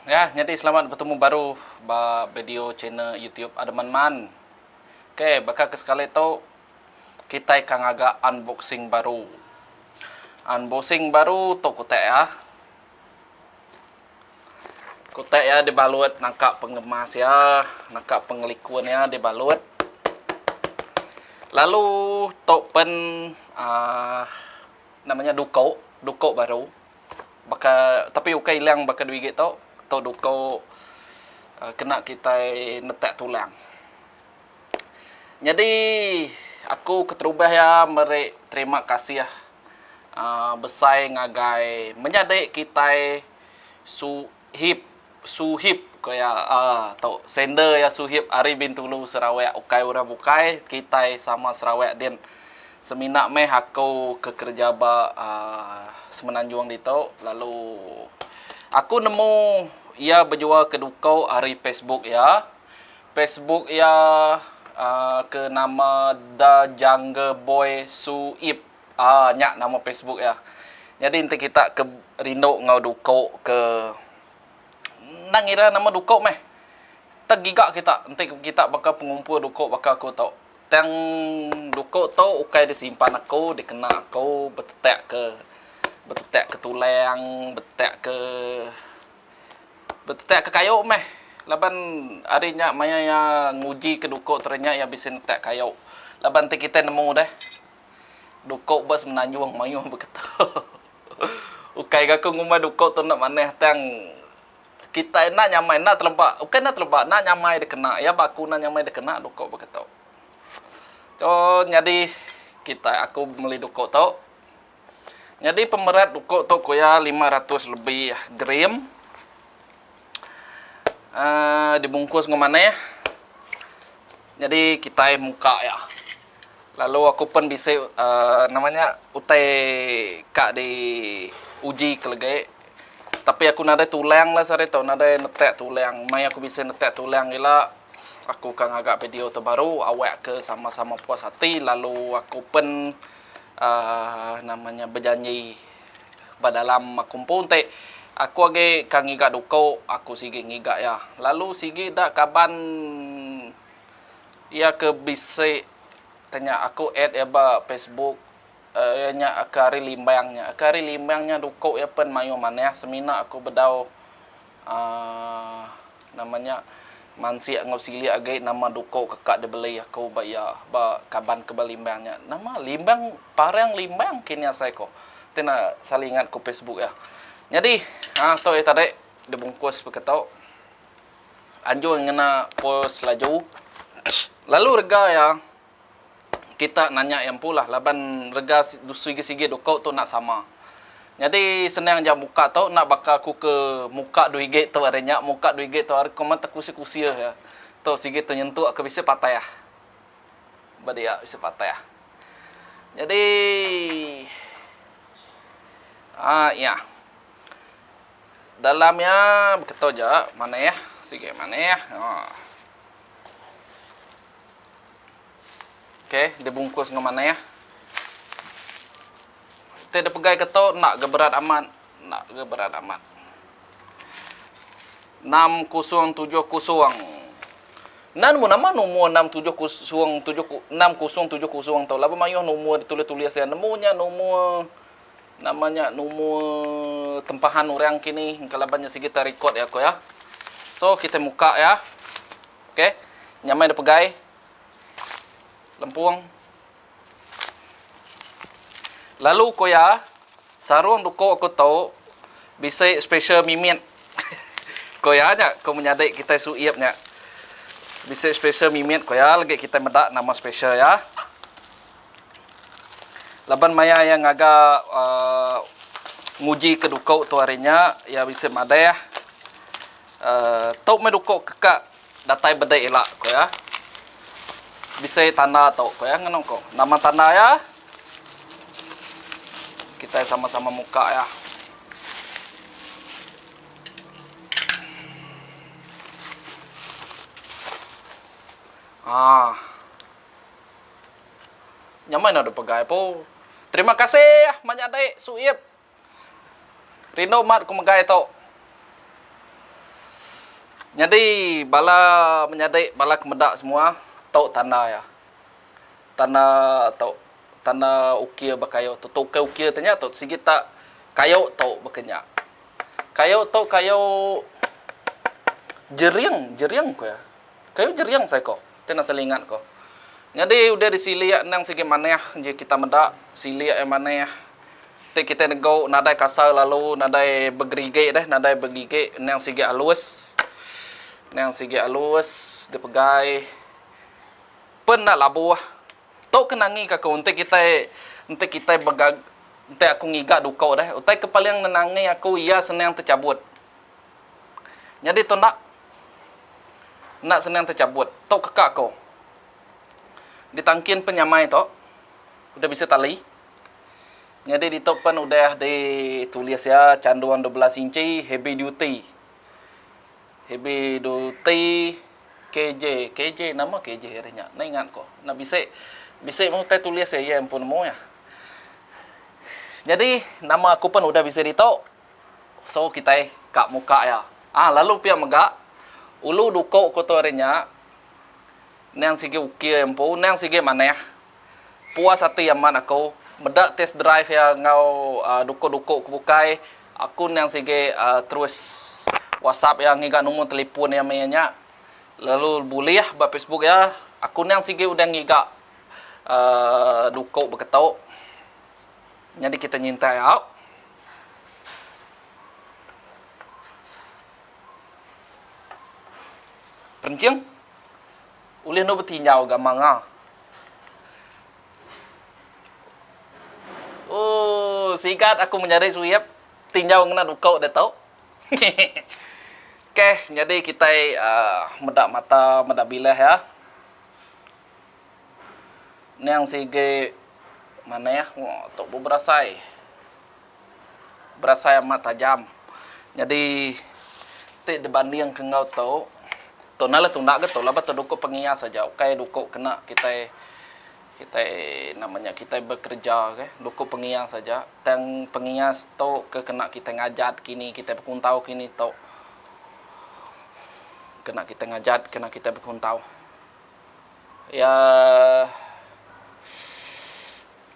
Ya, nyadi selamat betemu baru ba video channel YouTube Ademanman. Ok, baka ke sekali tu kitai ka ngaga unboxing baru. Unboxing baru tu kutak iya. Kutak iya dibalut nangka pengemas iya, nangka pengelikun iya dibalut. Lalu tu pen aaa nama nya duko, duko baru. baka tapi ukai ilang baka dua igi tu tu duko um kena kitai netak tulang. Nyadi aku keterubah iya meri terima kasih um besai ngagai menyadi kitai su Hip Suhip ko iya aaa tu sender iya Suhip ari Bintulu Sarawak ukai orang bukai kitai sama Sarawak din semina meh aku ke kereja ba aaa semenanjung ditu lalu aku nemu iya bejual keduko ari Facebook iya Facebook iya aaa ke nama The Jungle Boy Suhip. Aa nya nama Facebook iya. Nyadi enti kita ke rindu enggau duko ke enda ngira nama duko meh tegiga kita enti kita baka pengumpul duko baka aku to tang duko to ukai disimpan aku dikena aku betetak ke betetak ke tulang betetak ke betetak ke kayo meh laban ari nya maya iya nguji ke duko terdinyak iya bisi netak kayo laban enti kita nemu deh Duko ba semenanjung mayuh beketo. Ukai ga ko ngumbai duko tu enda manah tang kitai enda nyamai enda teleba ukai enda teleba enda nyamai dikena iya ba aku enda nyamai dikena duko beketo. To nyadi kitai aku meli duko to nyadi pemerat duko to ku iya lima ratus lebih gram aaa dibungkus enggau manah nyadi kitai muka iya. Lalu aku pen bisi nama nya utai ka di uji kelegi tapi aku nadai tulang lah sehari tu nadai netak tulang mei aku bisi netak tulang ila aku ka ngaga video tu baru awak ke sama sama puas ati lalu aku pen aaa nama nya bejanji ba dalam aku empu enti aku agi ka ngiga duko aku sigi ngiga iya lalu sigi da kaban Iya ke bisi te nya aku add iya ba Facebook iya nya ke ari Limbang nya ke ari Limbang nya duko iya pen mayuh manah semina aku bedau aaa nama nya mansik enggau silik agi nama duko ke ka dibeli aku ba iya ba kaban ke ba Limbang nya nama Limbang parang Limbang ke nya asai ko te na saling ingat ko Facebook iya nyadi ha to iya tadi dibungkus pekito. anjung ngena pos laju lalu rega iya kita nanya iya empu lah laban rega sigi-sigi duko tu enda sama nyadi senang aja muka tu enda baka ku ke muka dua rigi tu ari nya muka dua rigi tu ari kuma tekusi-kusi aja tu sigi tu nyentuk ke bisi patah ba dia bisi patah nyadi um iya. Dalam iya beketo ja maneh sigi maneh. Ok di bungkus enggau maneh. Ti di pegai keto enda ga berat amat enda ga berat amat. Enam kosong tujuh kosong. Nan mu nama nomor enam tujuh kosong tujuh enam kosong tujuh kosong tu laban maioh nomor ditulis-tulis iya nemu nya nomor Nama nya numur tempahan orang kini engka laban nya sigi ta record ya ko ya. So kita muka ya. Okey. Nyamai da pegai. Lempung. Lalu ko ya sarung duko ko to bisi special mimit. ko ya nya ko menyadi kitai su ip nya. Bisi special mimit ko ya lagi kitai meda nama special ya. Laban maya iya ngaga nguji ke duko tu hari nya iya bisi madah tau meh duko ke ka datai bedek ila ko iya bisi tanda tu ko iya ngeno ko nama tanda iya kitai sama sama muka iya. Aaa. Nyamai enda deh pegai po. Terima kasih menyadi Suip. Rindu mat ku megai tu. Nyadi bala menyadi bala ke meda semua tu tanda iya. Tanda tu tanda ukir ba kayu tu tu kai ukir tu nya tu sigi tak kayu tu baka nya. Kayu tu kayu jering jering ku iya. Kayu jering sai ko. Ti enda selingat ko. Nyadi udah disilik endang sigi manah ji kita meda silik ai manah ti kitai nego nadai kasar lalu nadai begerigi deh nadai begigi endang sigi alus endang sigi alus dipegai pen enda labuh tu ke nangi ka ku enti kitai enti kitai bega enti aku ngiga duko deh utai ke paling nenangi aku iya senang techabut. Nyadi tu enda enda senang techabut. Tu keka ku. Ditangkin penyamai tu udah bisi tali. Nyadi ditu pen udah di tulis iya chandung dua belas inchi heavy duty. Heavy duty KJ. KJ nama KJ ari nya. Enda ingat ku. Enda bisi bisi meh utai tulis iya iya empu nemu iya. Nyadi nama aku pen udah bisi ditu. So kitai ka muka iya. Ah lalu pia mega ulu duko ko tu ari nya nang sigi uki empu nang sigi manah puas ati amat aku meda test drive iya enggau aaa duko duko ko bukai aku nang sigi aaa terus whatsapp iya ngiga numur telefon iya meh iya nya lalu bulih ba facebook iya aku nang sigi udah ngiga aaa duko beketo nyadi kita nyintai au. Penting ulih endur betinjau ga manga. Oh, sigat aku menyadi suyep tinjau ngena duko de tu. okay, nyadi kitai uh, meda mata, meda bilah ya. Niang sigi manah tu beberasai. Berasai amat tajam. Nyadi ti dibandingka enggau tu, tu nah lah tunda ga tu laban tu duku pengias aja ukai duku kena kitai kitai nama nya kitai bekereja kah duku pengias aja. Tang pengias tu ke kena kitai ngajat kini kitai bekuntau kini tu kena kitai ngajat kena kitai bekuntau. Iya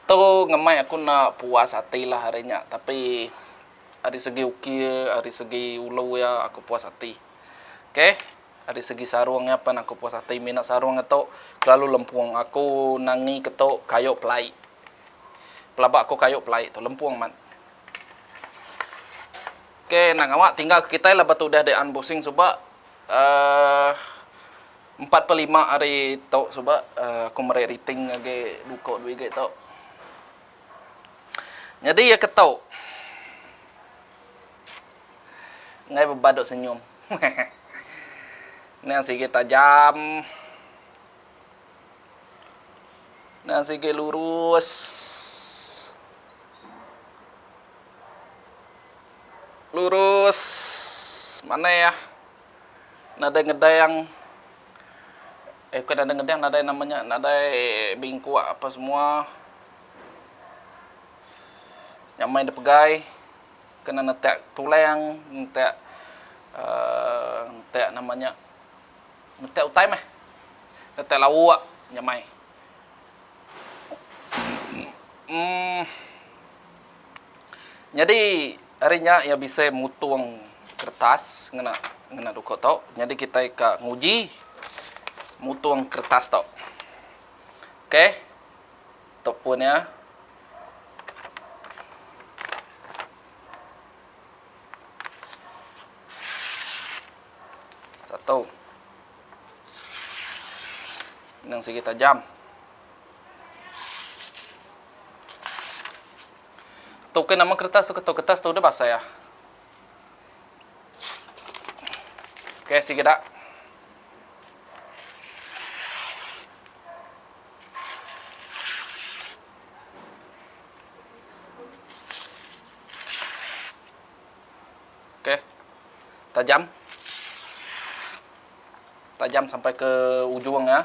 tu ngemai aku enda puas ati lah ari nya tapi ari segi ukir ari segi ulu iya aku puas ati ok ari segi sarung iya pun aku puas ati mina sarung iya tu kelalu lempung aku nangi ke tu kayu pelai pelaba aku kayu pelai tu lempung amat ok enda ngawa tinggal kitai laban tu udah dian busing suba aaa. Empat pa lima hari tu suba aku meri riting agi dua ko dua igi tu. Nyadi iya ke tu. Enggai beban duk senyum. Nang sigi tajam. Nang sigi lurus. Lurus. Manah iya. nadai ngedeng eh bukan nadai ngedeng nadai nama nya nadai bingkok apa semua nyamai da pegai kena netak tulang netak aaa netak nama nya netak utai meh netak lauk nyamai. Nyadi ari nya iya bisi mutung kertas ngena ngena duku tu. Nyadi kitai ka nguji mutung kertas tu. Okey. Tu pun iya. Satu. Nang sigi tajam. Tu ke nama keretas tu ke tu keretas tu udah basai ah. Okey sigi dak. Okey. Tajam. Tajam sampai ke ujung ya.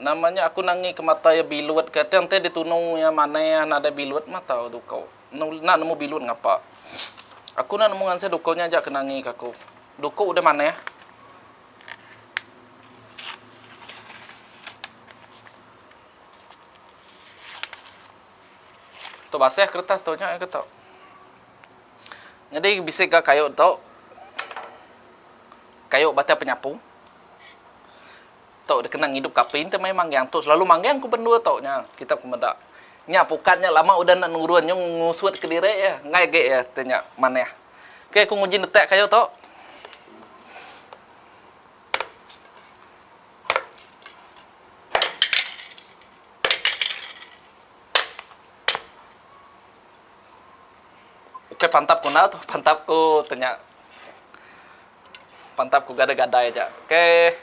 Nama nya aku nangi ke mata iya bilut ke tang enti ditunu iya manah nadai bilut mata tu ko enda nemu bilut ngapa. Aku enda nemu ngansai duko nya aja ke nangi ke aku. Duko udah manah. Tu basah keretas tu nya iya ke tu. Nyadi bisi ga kayu tu kayu batang penyapu. tau dikena ngidup kapi enti maya manggang tu selalu manggang ku bendur tau nya kitak ku meda nya pukat nya lama udah enda nurun nyung ngusut kediri iya enggai agi iya ti nya manah ok ku nguji netak kayu tu. Ok pantap ku enda tu pantap ku tu nya. Mantap ku gada gadai aja okay.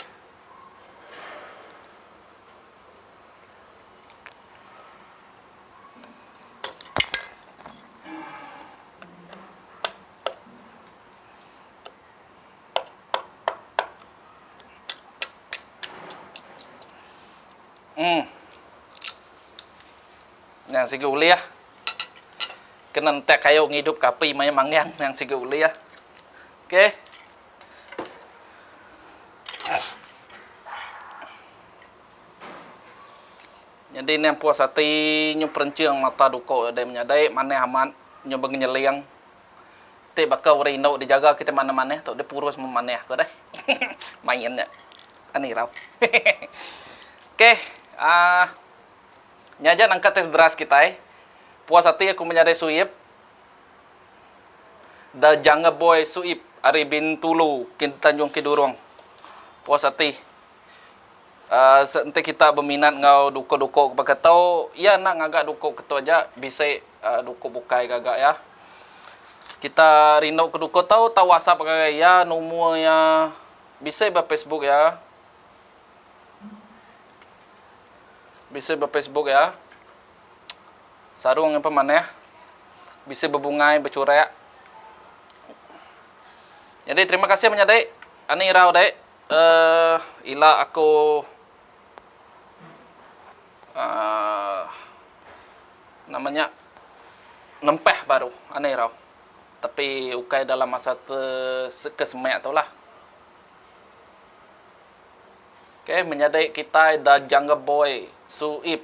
Hmm. Yang sigi ulih. Kena entek kayu ngidup ke api maya manggang yang sigi ulih. Okey. Nyadi neh puas ati nyu perenching mata duko dei menyadai manah amat nyu bengenyeling ti baka urang indu dijaga kitai manah-manah tu dei purus memanah ko deh main nya an irau hehehe okey aa nya aja nangkat test drive kitai puas ati aku menyadai Suyip. The Jungle Boy Suip ari Bintulu Tanjung Kidurong puas ati uhh enti kita beminat enggau duko-duko ke baka tu iya enda ngaga duko ke tu aja bisi uhh duko bukai gaga iya kita rindu ke duko tu tau whatsapp ngagai iya numur iya bisi ba Facebook iya bisi ba Facebook iya. Sarung nyimpan manah bisi bebungai bechurak. Nyadi terima kasih menyadi anih irau dek uhh ila aku uhh nama nya nempah baru anih irau tapi ukai dalam masa te ke semak tu lah. Ok menyadi kitai da jungle boy suip.